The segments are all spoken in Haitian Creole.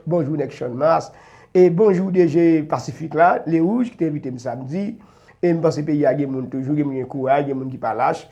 Bonjou nèg channmas e bonjou DG pasifik la le rouge ki te envite m samdi e m panse peyi a gen moun toujou gen moun gen kouraj gen moun ki pa lach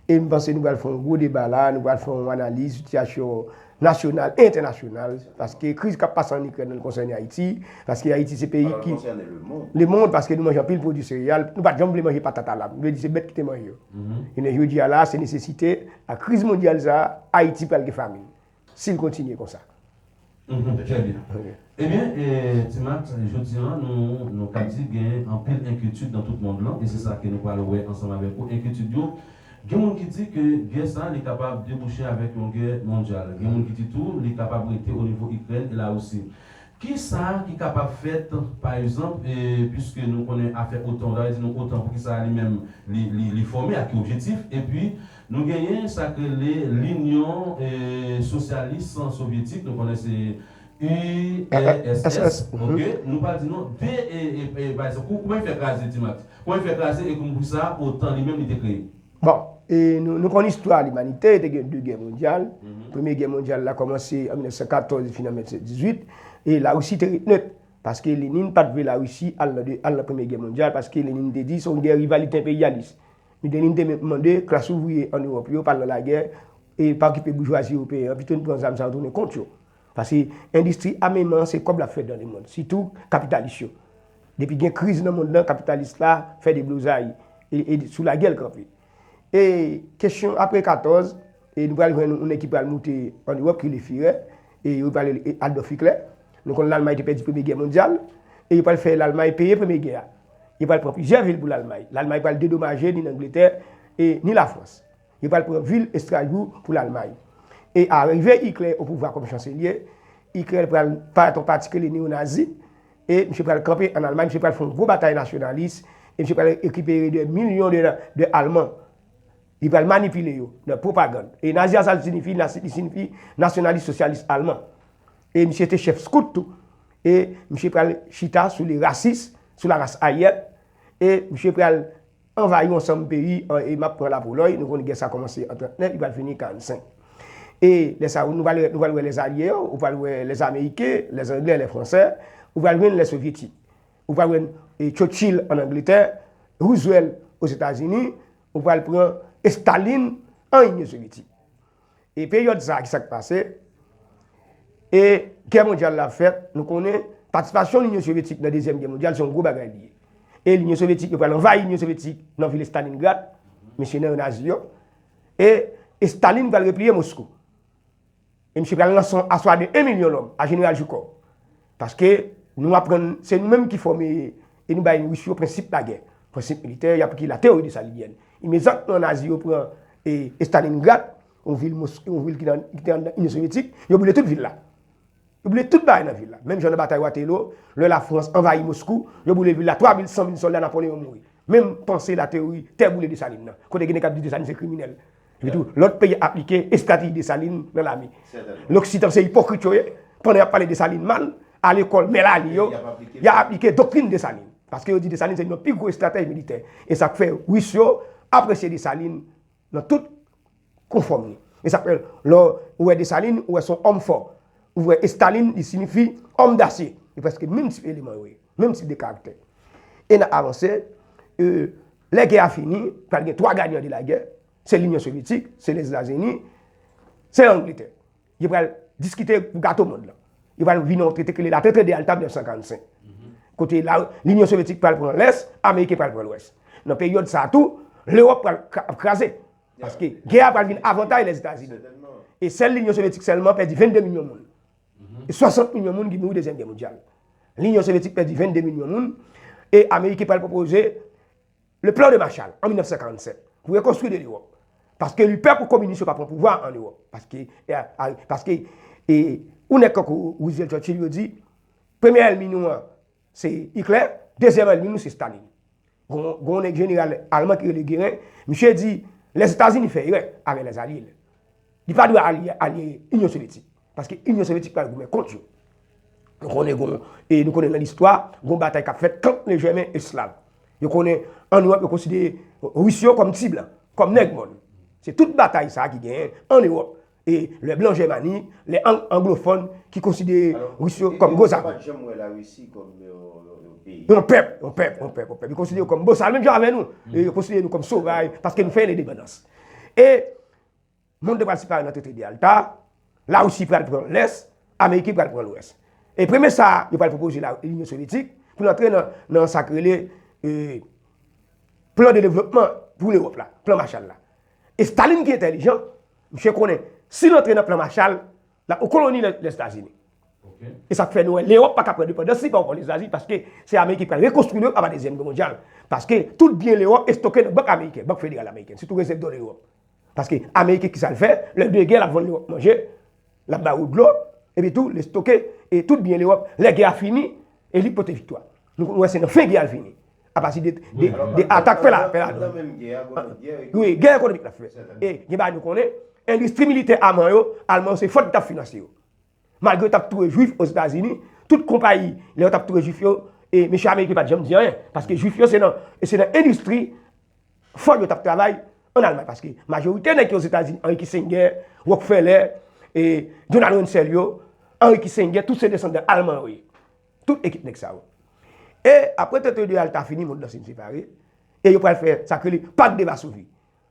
e m panse nou pral fè yon gwo deba la nou pral fè yon analiz sitiyasyon nasyonal e entènasyonal paske kriz k ap pase an ikrèn nan konsène ayiti paske ayiti se peyi ki lemond paske nou manje anpil pwodui sereyal nou pat janm vle manje patat a la m vle di se bèt ki te manje yo jounen jodi a la se nesesite ak kriz mondyal sa a ayiti pral gen famin Si l kontinye konsa. Mph, Trè byen. Ebyen, Ti Mat, jodi an nou ka di gen anpil enkyetid nan tout mond lan e se sa ke nou pral wè ansanm avèk ou. Enkyetid yo, gen moun ki di ke gè sa li kapab debouche avèk yon gè mondyal. Gen moun ki di tou li kapab rete onivo Ikrèn e Larisi. Kisa ki kapab fèt pa egzanp puiske nou konnen afè otan, w ta di nou otan poukisa li menm li fòme, a ki objetif? Epi Nou genyen sak rele linyon sosyalis sovyetik nou konnen se URSS ok nou pral di non de pa egzanp kouman li fè kraze ti max kouman li fè kraze e kouman pou sa otan li menm li te kreye. Bon e nou konn istwa limanite te gen 2 gè mondyal premye gè mondyal la kòmanse an 1914 li fini an 1918 e larisi te ret nèt paske Lenin pat vle larisi al nan premye gè mondyal paske Lenin te di se yon gè rivalite enperyalis Mideline te menm mande klas ouvriye ann Ewòp yo pa al nan lagè e pa okipe boujwazi ewopeyen an, pito n pran zam sa yo tounen kont yo. Pase endistri ameman an se kòb l ap fè dan lemonn, sitou kapitalis yo. Depi gen kriz nan monn lan, kapitalis la fè deblozay e e sou lagè l kanpe. E kesyon apre 14, e nou pral jwenn yon nèg ki pral moute ann Ewòp ki rele Firè, e yo pral rele Adòlf Iklè. Nou konn Lalmay te pèdi premye gè mondyal e yo pral fè Lalmay peye premye gè a. Yo pral pran plizyè vil pou Lalmay. Lalmay pral dedomaje ni Langletè e ni Lafrans. Yo pral pran vil Estrasbou pou Lalmay. E a rive Ikler opouvwa kòm chanselye, Ikler pral parèt an pati ke li neonazi e misye pral kanpe an Almay, misye pral fè yon gwo batay nasyonalis e misye pral rekipere dè milyon de Alman. Li pral manipile yo nan pwopagann. E Nazi a sa l sinifi? Li sinifi Nasyonalis Sosyalis Alman. E misye te chèf Skout tou. E misye pral chita sou le rasis, sou la ras aryèn. E misye pral anvayi yon ansanm peyi, e m ap pran la Polòy, nou konnen gè sa kòmanse an 39, li pral fini an 45. E lè sa a, nou pral wè Lèzalye yo, ou pral wè Lèzameriken, Lèzanglè, Lèfransè, ou pral jwenn Lèsovyetik. Ou pral wè Churchill an Angletè, Roosevelt Ozetazini, Ou pral pran Estalin an Inyon Sovyetik. E peryòd sa a ki sa k pase? E gè mondyal la ap fèt, nou konnen patisipasyon Linyon Sovyetik nan dezyèm gè mondyal se yon gwo bagay li ye. E Linyon Sovyetik yo pral anvayi Linyon Sovyetik nan vil Estalingrad, mesye nan yo nazi yo, e Estalin pral repliye Moskou. E misye pral lanse yon aswa de 1 milyon lòm a Jeneral Joukò. Paske nou aprann se nou menm ki fòme e nou bay Ris yo prensip lagè, prensip militè, y aplike la teyori de Salinyèn. Imedjatman Nazi yo pran Estalingrad, yon vil mons, yon vil ki nan, ki te anndan Inyon Sovyetik, yo boule tout vil la. Yo boule tout bagay nan vil la. Menm jan nan batay Watelo, lè Lafrans anvayi Moskou, yo boule vil la, 3 mil, 100 mil sòlda Napoleyon mouri. Menm panse la teyori tè boule Desalin nan. Kote gen nèg k ap di Desalin se kriminèl. Epitou, lòt peyi aplike estrateji Desalin nan lame. Loksidan se ipokrit yo ye, pandan y ap pale Desalin mal, a lekòl mè lali yo, y ap aplike doktrin Desalin. Paske yo di Desalin se youn nan pi gwo estratèj militè. E sa k fè Ris yo apresye Desalin nan tout konfòm li. E sa k fè lò ou wè Desalin, ou wè se yon òm fò. Ou wè Estalin, li sinifi òm dasye. E prèske menm tip eleman yo ye, menm tip de karaktè. E n ap avanse. Lè gè a fini, pral gen 3 gayan de lagè, se Linyon Sovyetik, se Lèzetazini, se Angletè. Yo pral diskite pou gato mond lan. Yo pral vini yon trete ki rele la Trete de Yalta 1945. Kote Linyon Sovyetik pral pran Lès, Ameriken pral pran Lwès. Nan peryòd sa a tou, Lewòp pral ap kraze. Paske gè a pral vin avantay Lèzetazini. E sèl Linyon Sovyetik sèlman pèdi 22 milyon moun. E 60 milyon moun ki mouri Dezyèm Gè Mondyal. Linyon Sovyetik pèdi 22 milyon moun. E Ameriken pral pwopoze le plan de Marshall an 1947 pou rekonstwi de Lewòp. Paske li pè pou kominis yo pa pran pouvwa an Lewòp. Paske, paske, e ou nèg kankou Roosevelt, Churchill yo di, premye èlmi nou an, Se Iklè, dezyèm ènmi nou se Stalin. Gon yon jeneral alman ki rele Geren, misye di Lèzetazini fè erè avèk lèzalye l. Li pa dwe ale ale Inyon Sovyetik, paske Inyon Sovyetik pral goumen kont yo. Nou konnen gon, e nou konnen nan listwa, gon batay k ap fèt kant lè Jèmen e Slav. Yo konnen an Ewòp yo konsidere Ris yo kòm ti blan, kòm nèg mòn. Se tout batay sa ki genyen an Ewòp E lè blan Jèmani, lè anglofòn ki konsidere Ris yo kòm bozal. Yo pa t janm wè Larisi kòm yon peyi. Yon pèp, yon pèp, yon pèp, yon pèp. Yo konsidere yo kòm bozal menm jan avè nou. Yo konsidere nou kòm sovaj paske nou fè lendepandans. E monn te pral separe nan Trete de Yalta, Larisi pral pran lès, Ameriken pral pran lwès. E premye sa yo pral pwopoze Linyon Sovyetik pou l antre nan sa k rele plan de devlopman pou Lewòp la, plan Machal la. E Stalin ki entèlijan, Misye konnen, si l antre nan plan Marshall, l ap koloni Lèzetazini. E sa k fè nou wè Lewòp pa ka pran endepandans li pa okòl Lèzetazini, paske se Ameriken ki pral rekonstwi Lewòp apa Dezyèm Gè Mondyal. Paske tout byen Lewòp estoke nan bank ameriken, Bank Federal Amerikèn, sitou rezèv dò Lewòp. Paske Ameriken ki sa l fè, lè de gè l ap vann Lewòp manje, L ap bay ou dlo, epi tou l estoke tout byen Lewòp lè gè a fini e li pote viktwa. Nou konn wè se nan fen gè a l fini apati de atak fè la don. Wi, gè ekonomik l ap fè. E gen bagay nou konnen, endistri militè Alman yo, Alman yo se Ford ki t ap finanse yo. Malgre yo t ap touye jwif ozetazini, tout konpayi lè yo t ap touye jwif yo, mesye ameriken pa t janm di anyen paske jwif yo se nan endistri. Ford yo t ap travay ann Almay paske majorite nèg ki Ozetazini, Henry Kissinger, Rockefeller, Donald Rumsfeld yo, Henry Kissinger, tout se desandan Alman yo ye. Tout ekip nèg sa yo. E apre trete de Yalta fini, mond lan fin separe, e yo pral fè sa krele Pak de Vasovi.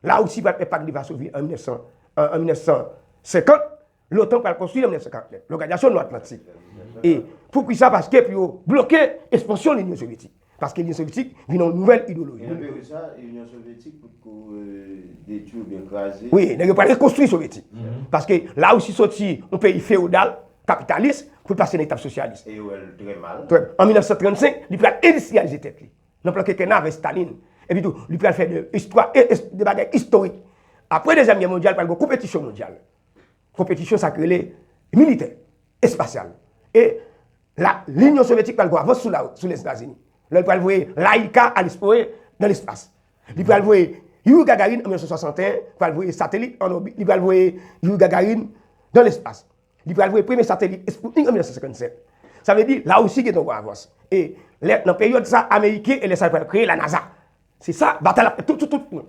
Larisi pral fè Pak de Vasovi an 1950. Lotan pral konstwi an 1949 loganizasyon Nò Atlantik e pou kisa paske pou yo bloke espansyon linyon sovyetik paske linyon sovyetik vin yon nouvèl idoloji. Gen anpil sa inyon sovyetik pot ko detwi oubyen kraze. Wi nèg yo pral rekonstwi sovyetik paske la Russie soti yon peyi feodal kapitalis pou pase nan etap sosyalis. E yo wè l trè mal. Trè an 1935 li pral endistriyalize tèt li nan plan kekenna avè Staline epi tou li pral fè de istwa e de bagay istorik apre dezyèm gè mondyal pral gon konpetisyon mondyal konpetisyon sa k rele militè, espasyal. E la Linyon Sovyetik pral gwo avans sou Lèzetazini. Lè l pral voye Laika al esplore nan lespas. Li pral voye Youri Gagarin an 1961, pral voye satelit an òbit. Li pral voye Youri Gagarin nan lespas. Li pral voye premye satelit Sputnik an 1957. Sa vle di Larisi gen ton gwo avans. E lè nan peryòd sa Ameriken e lè sa yo pral kreye la NASA. Se sa batay la ap fèt tout sou tout fwon.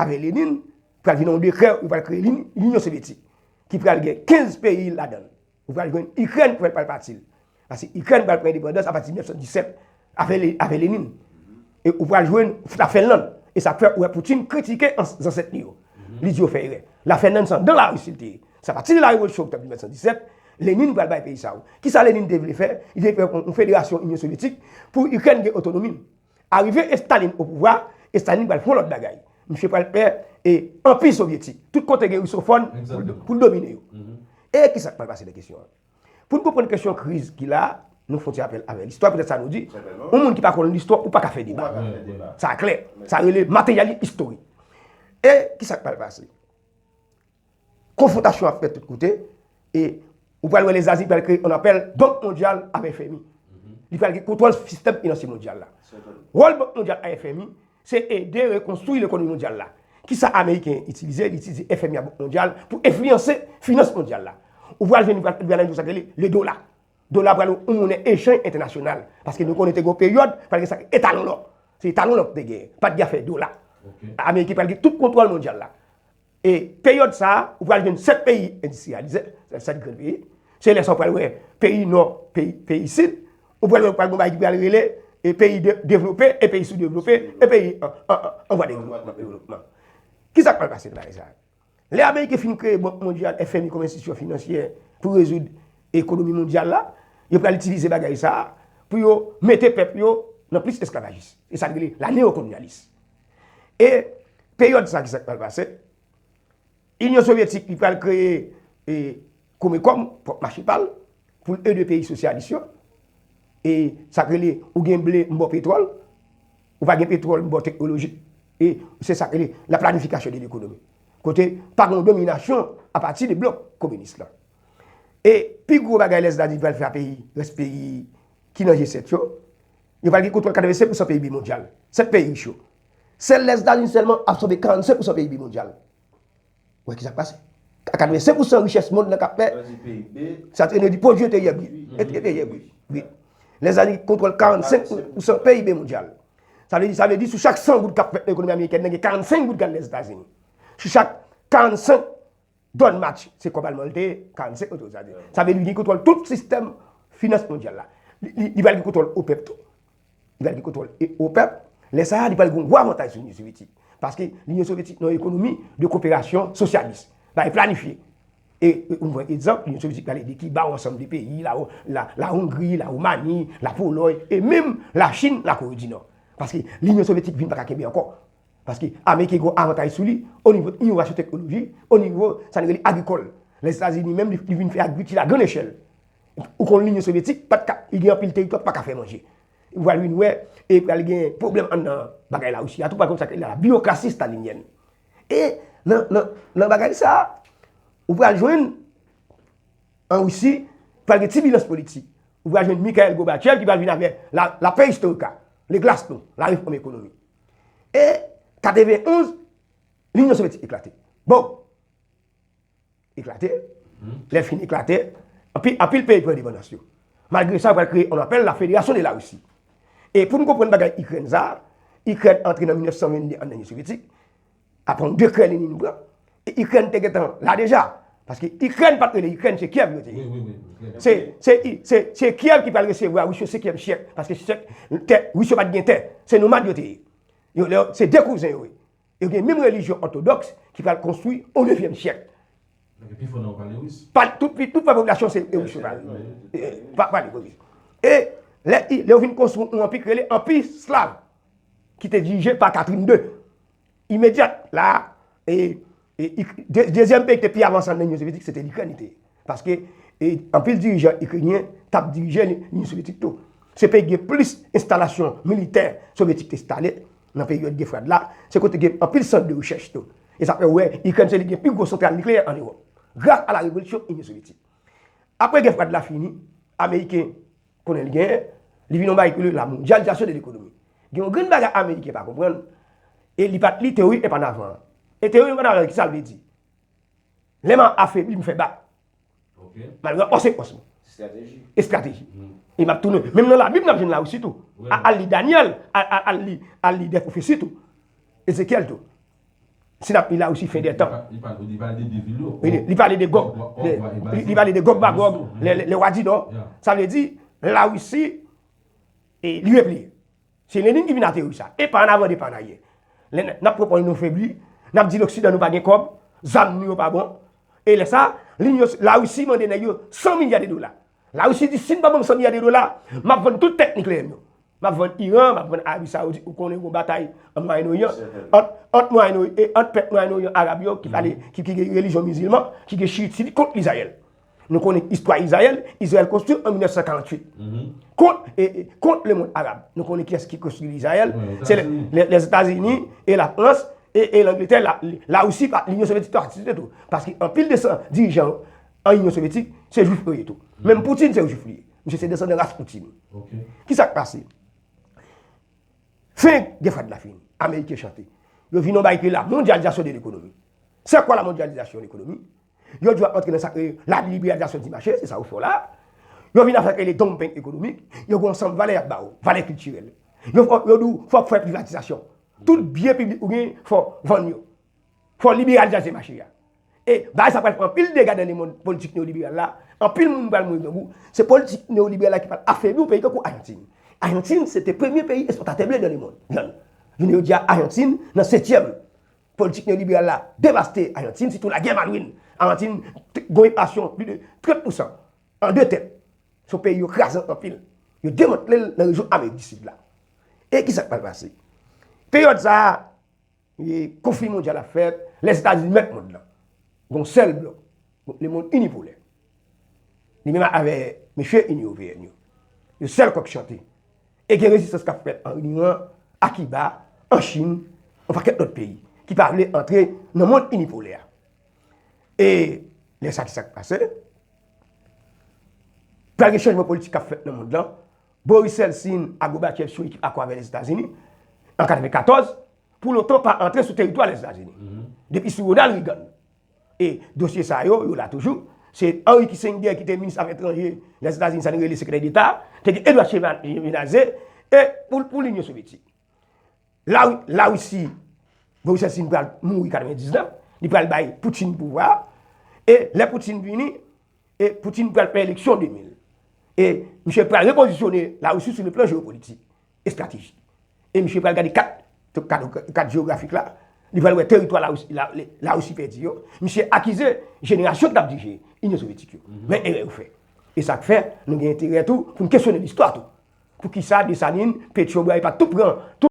Apre Lenin, pral vin yon dekrè yo pral kreye Linyon Sovyetik ki pral gen 15 peyi ladan l. Ou pral jwenn Ikrèn ki pral pati l. Paske Ikrèn pral pran endepandans apati 1917 apre Lenin. E ou pral jwenn Lafenlann. E sa k fè ou wè Poutin kritike zansèt li yo. Li di yo fè erè. Lafenlann se anndan Larisi l te ye. Se apati de la revolisyon Oktòb 1917, Lenin pral bay peyi sa yo. Kisa Lenin te vle fè? Li te vle fè yon federasyon Inyon Sovyetik pou Ikrèn gen otonomi l. Arive Estaline o pouvwa, Estaline pral fon lòt bagay. Misye pral fè e anpi sovyetik. Tout kote gen Rusofòn pou l domine yo. E kisa k pral pase nan kesyon an? Pou n konprann kesyon kriz ki la, nou fon ti rapèl avè listwa. Petèt sa nou di, yon moun ki pa konn listwa, ou pa ka fè deba. Sa klè. Sa rele materyali istorik. E kisa k pral pase? Konfwontasyon ap fèt tout kote e ou pral wè Lèzetazini pral kreye yon apèl Bank Mondyal avè FMI. Li pral gen kontwòl sistèm finansye mondyal la. Wòl Bank Mondyal a FMI se ede rekonstwi lekonomi mondyal la. Kisa Ameriken itilize? Li itilize FMI a Bank Mondyal pou enfliyanse finans mondyal la. Ou pral jwenn li pral vin yon sa rele le dola. Dola pral yon monnen echanj entènasyonal. Paske nou konnen te gen yon peryòd pral gen sa rele etalon lò. Se etalon lò ki te genyen. Pa t gen afè dola. Ameriken pral gen tout kontwòl mondyal la. E peryòd sa a, ou pral jwenn 7 peyi endistriyalize, 7 grenn peyi. Se lè sa ou pral wè peyi nò, peyi sid. Ou pral wè pral gen yon bagay ki pral rele peyi devlope e peyi soudevlope e peyi an vwa devlopman. Ki sa k pral pase nan bagay sa a? Lè ameriken fin kreye Bank mondyal, FMI kòm enstitisyon finansyè pou rezoud ekonomi mondyal la, yo pral itilize bagay sa a pou yo mete pèp yo nan plis esklavajis. Se sa n rele la neyokolonyalis. E peryòd sa ki sa k pral pase? Inyon Sovyetik li pral kreye e Komekòm, pwòp mache pa l, pou l ede peyi sosyalis yo. E sa k rele ou gen ble m ba w petwòl, ou pa gen petwòl m ba w teknoloji. E se sa k rele la planifikasyon de lekonomi. Kote pa gen yon dominasyon apati de blòk kominis la. E pi gwo bagay lè Zdadi pral frape rès peyi ki nan G7 yo, Yo pral gen kontwòl 85 pousan PIB mondyal. 7 peyi rich yo. Sèl Lèzetazini sèlman absòbe 45 pousan PIB mondyal. Wè kisa k pase. A 85 pousan richès mond lan k ap fè. Lè w di PIB. Sa t enèji, pwodui enteryè brut. Enteryè brut. Wi. Lèzetazini kontwòl 45 pousan PIB mondyal. Sa vle di, sa vle di sou chak 100 goud k ap fèt nan ekonomi amerikèn nan gen 45 goud k al Lèzetazini. Sou chak 45. Don Match se kòb alman li te ye, 45 mil dola sa di. Sa vle di li gen kontwòl tout sistèm finans mondyal la. Li pral gen kontwòl OPEP tou. Li pral gen kontwòl OPEP. Lè sa a li pral gen gwo avantaj sou Linyon Sovyetik. Paske Linyon Sovyetik nan ekonomi de koperasyon sosyalis. Bagay planifye. E nou pran egzanp, Linyon Sovyetik pral ede Kiba ou ansanm de peyi, la Hongri, la Romani, la Polòy, e menm la Chin, la Kore di Nò. Paske Linyon Sovyetik vin pa ka kenbe ankò. Paske Ameriken gen yon avantay sou li o nivo inovasyon teknoloji, o nivo sa nou rele agrikòl. Lèzetazini menm li vin fè agrikil a grann echèl. Ou konn Linyon Sovyetik pa t ka, li gen anpil teritwa ki pa ka fè manje. Ou pral vin wè e pral gen pwoblèm anndan bagay Larisi a tou, pral konn sa k rele la biwokrasi stalinyèn. E nan nan nan bagay sa a, ou pral jwenn an Risi pral gen tibilans politik. Ou pral jwenn Mikhail Gorbachev ki pral vin avè la la perestoyka, le glasnost, la refòm ekonomik. E 91, Linyon Sovyetik eklate. Bon, eklate, lè fin eklate, anpil peyi pran endepandans yo. Malgre sa, yo pral kreye, on apèl la Federasyon de la Risi. E pou nou konprann bagay Ikrèn sa, Ikrèn antre nan 1922 an nan Linyon Sovyetik, Aprann de krè Lenin pran e ikrèn te gentan la deja paske ikrèn pat rele ikrèn se kyèv yo te ye se kyèv ki pral resevwa rus yo sekyèm syèk paske rus yo pat gen tè se nomad yo te ye se de kouzen yo ye yo gen menm relijyon òtodoks ki pral konstwi o nevyèm syèk tout pwèp popilasyon se rus yo e lè yo vin konstwi yon anpi ki rele anpi slav ki te dirije pa katrin de Imedyat la, dezyèm peyi ki te pi avanse nan Inyon Sovyetik se te Ikrèn li te ye. Paske anpil dirijan ikrenyen t ap dirije Inyon Sovyetik tou. Se peyi ki gen plis enstalasyon militè sovyetik te enstale nan peryòd Gè Frèd la. Se kote ki gen anpil sant de rechèch tou. E sa fè ou wè Ikrèn se li ki gen pi gwo santral nikleyè ann Ewòp, gras a la revolisyon Inyon Sovyetik. Apre Gè Frèd la fini, Ameriken Konnen li genyen, li vin yon bagay ki rele la mondyalizasyon de lekonomi. Gen yon grenn bagay ameriken pa konprann, e li pat li teori Epanavan an. E teori Epanavan an, ki sa l vle di? Lè m ap afebli, m fè bak. Malgre an konsekans m. Estrateji. Estrateji. E m ap tounen. Menm nan Labib n ap jwenn Lawousi tou. Al li Danyèl, al li dè pwofesi tou. Ezekyèl tou. Si nap li la Russie fin des temps. Li pale de 2 vil yo. Li pale de Gog. Li pale de Gog Magog, le roi du nord. Sa vle di la Russie li repliye. Se Lenin ki vin ateri sa. E pa an avan de pa an aryè. Lè nap reponn nou febli, nap di loksidan nou pa gen kob, zam nou yo pa bon. E lè sa, la Russie mande nèg yo 100 milya de dola. La Russie di si n pa ban m 100 milya de dola, m ap vann tout tèt nikleyè m yo. M ap vann Iran, m ap vann Arabi Sawoudit, ou konnen gen yon batay an Mwayen Oryan, ant pèp Mwayen Oryan Arab yo ki pale, ki gen relijyon mizilman, ki gen chiyit sinit kont Izrayèl. Nou konnen istwa Izrayèl, Izrayèl konstwi an 1948 kont lemond Arab. Nou konnen kiyès ki konstwi Izrayèl, se Lèzetazini e Lafrans e Langletè, La Russie, Linyon Sovyetik te patisipe tou. Paske anpil de san dirijan yo, An Inyon Sovyetik, se jwif yo ye tou. Menm Poutine se yon jwif li ye. Misye se desandan ras Poutine. Ki sa k pase? Fen Gè Fwad la fini. Ameriken chante. Yo vin yon bagay ki rele la mondyalizasyon de lekonomi. Se kwa la mondyalizasyon de lekonomi? Yo di w ap antre nan sa k rele la libriyalizasyon di mache, se sa ou fè w la a. Yo vin nan sa k rele donmping ekonomik. Yo gen yon ansanm valè y ap ba ou, valè kiltirèl. Yo di w fò w fè privatizasyon. Tout byen piblik ou genyen, fò w vann yo. Fò w libriyalizasyon mache a. E bagay sa pral fè anpil dega nan lemond politik neyoliberal la, anpil moun pral mouri grangou, se politik neyoliberal la ki pral afebli yon peyi tankou Ayantin. Ayantin se te premye peyi espòtatè ble nan lemond, vyann. Jounen jodi a Ayantin nan setyèm. Politik neyoliberal la devaste Ayantin, sitou lagè Malwin. Ayantin gon enflasyon pli de 30 pousan an de tèt. Se yon peyi yo kraze anpil. Yo demantle l nan rejyon Amerik di Sid la. E kisa k pral pase? Peryòd sa a. Konfli mondyal ap fèt, Lèzetazini mèt mond lan. Gon sèl blòk, lemond inipolè. Li menm avè mesye Inyon Oveèn yo. Yo sèl kòk chante. E gen rezistans kap fèt an Iran, a Kiba, an Chin, yon pakèt lòt peyi ki pa vle antre nan mond inipolè a. E lè sa ki sak pase? Pral gen chanjman politik kap fèt nan mond lan. Boris Yeltsin ak Gorbachev sou ekip akò avè Lèzetazini an 94 pou l'OTAN pa antre sou teritwa Lèzetazini. Depi sou Ronald Reagan e dosye sa yo, yo la toujou. Se Henry Kissinger ki te minis afè etranje Lèzetazini, sa nou rele sekretè deta, te gen Edward Shevardnadze e pou l'Inyon Sovyetik. La la Russie Borisessin pral mouri 99, li pral bay Poutine pouvwa. E lè Poutine vini, e Poutine pral fè eleksyon 2000. E misye pral repozisyone la Russie sou le plan jeopolitik, estrateji. E misye pral gade kat, kat jeografik la, li pral wè teritwa la Russie, la, la Russie pèdi yo. Misye akize jenerasyon k tap dirije Inyon Sovyetik yo. Men erè yo fè. E sa k fè, nou gen enterè tou pou n kesyone listwa tou. Poukisa Desalin, Petyon, Bwaye pa t tou pran tout.